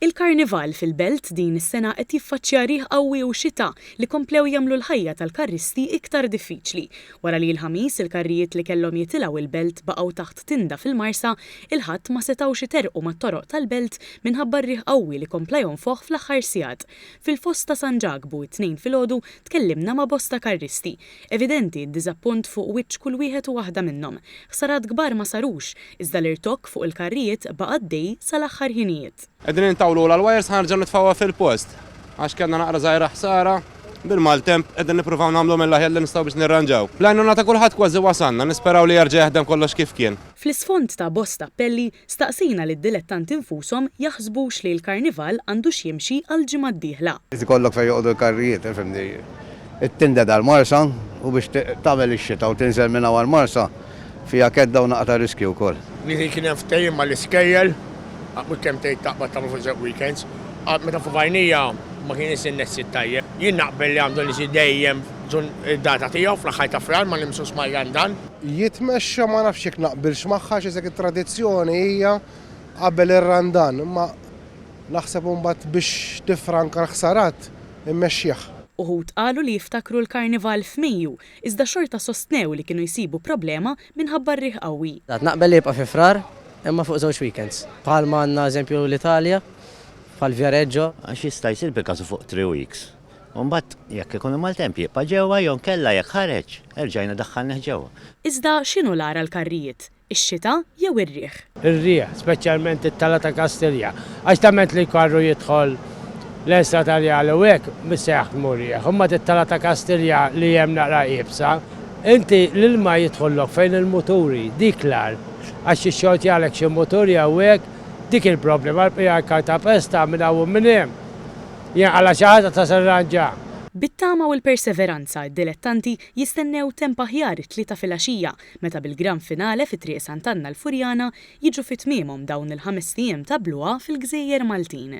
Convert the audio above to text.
Il-Karnival fil-Belt din is-sena qed jiffaċċja riħ qawwi u xita li komplew jagħmlu l-ħajja tal-karristi iktar diffiċli. Wara li l-Ħamis il-karrijiet li kellhom jitilgħu l-Belt baqgħu taħt tinda fil-Marsa, il-Ħadd ma setgħux iterqu mat-toroq tal-Belt minħabba r-riħ qawwi li kompla jonfoħ fl-aħħar sigħat. Fil-Fosta San Ġakbu t-Tnejn filgħodu tkellimna ma' bosta karristi Evidenti d-diżappunt fuq wiċċ kull wieħed u waħda minnhom. Ħsarat kbar ma sarux, iżda l-irtokk fuq il-karrijiet baqa' għaddej sal-aħħar ħinijiet. Qegħdin intawlulha l-wires ħa nerġgħu nitfgħuha fil-post għax kellna naqra żgħira ħsara, bil-maltemp qegħdin nippruvaw nagħmlu mill-aħjar li nistgħu biex nirranġaw. Bl-għajnuna ta' kulħadd kważi wasalna, nisperaw li jerġa' jaħdem kollox kif kien. Fl-isfond ta' bosta appelli, Staqsina lid-dilettanti nfushom jaħsbux li l-Karnival għandux jimxi għall-ġimgħa d-dieħla. Irid ikollok fejn joqogħdu l-karrijiet, fimni. It-tinded għall-Marsa u biex tagħmel ix-xita u tinżel minn hawn għall-Marsa fiha kedda u naqa' ta' riskju wkoll. Nieħi kien hemm ftehim mal-iskejjel, mhux kemm tgħid taqbad tagħmlu fuq żewġ weekends. Qatt meta fuq għajnejja ma kien isir nexxiet tajjeb. Jien naqbel li għandu nisir dejjem data tiegħu fl-aħħar ta' Frar ma nimsux mal-London. jitmexxa ma nafx jekk naqbilx magħha għax isek it-tradizzjoni hija qabel ir-Randan imma naħseb imbagħad biex tiffranka l-ħsarat immexxih. Uħud qalu li jiftakru l-Karnival f'Mejju iżda xorta sostnew li kienu jsibu problema minħabba r-riħ qawwi. Għad naqbel li jibqa' fi Frar imma fuq żewġ weekends. Bħalma għandna eżempju l-Italja bħal Viareggio. Għax jista' jsir bil-kasu fuq three weeks. u mbagħad jekk ikun maltemp jibqa' ġewwa jew inkella jekk ħareġ erġajna daħħalnih ġewwa. Iżda x'inhu l-agħar għall-karrijiet, ix-xita jew ir-riħ? Ir-riħ, speċjalment it-tala ta' Kastilja, għax temment li l-karru jidħol lejn Strat Arjali u hekk mhux se jaħdmu r-riħ. Imbagħad it-tala ta' Kastilja li hemm naqra iebsa, inti l-ilma jidħollok fejn il-muturi, dik l-agħar, għax jixxortjalek xi mutur jew hekk, dik il-problema, għall-bqija l-kartapesta minn hawn u minn hemm. Jien għala xi ħaġa ta' serragħ ġa. Bit-tama u l-perseveranza d-dilettanti jistennew temp aħjar it-Tlieta filgħaxija meta bil-Gran Finale fi Triq Sant'Anna l-Furjana jiġu fi tmiemhom dawn il-ħamest ijiem ta' bluha fil-gżejjer Maltin.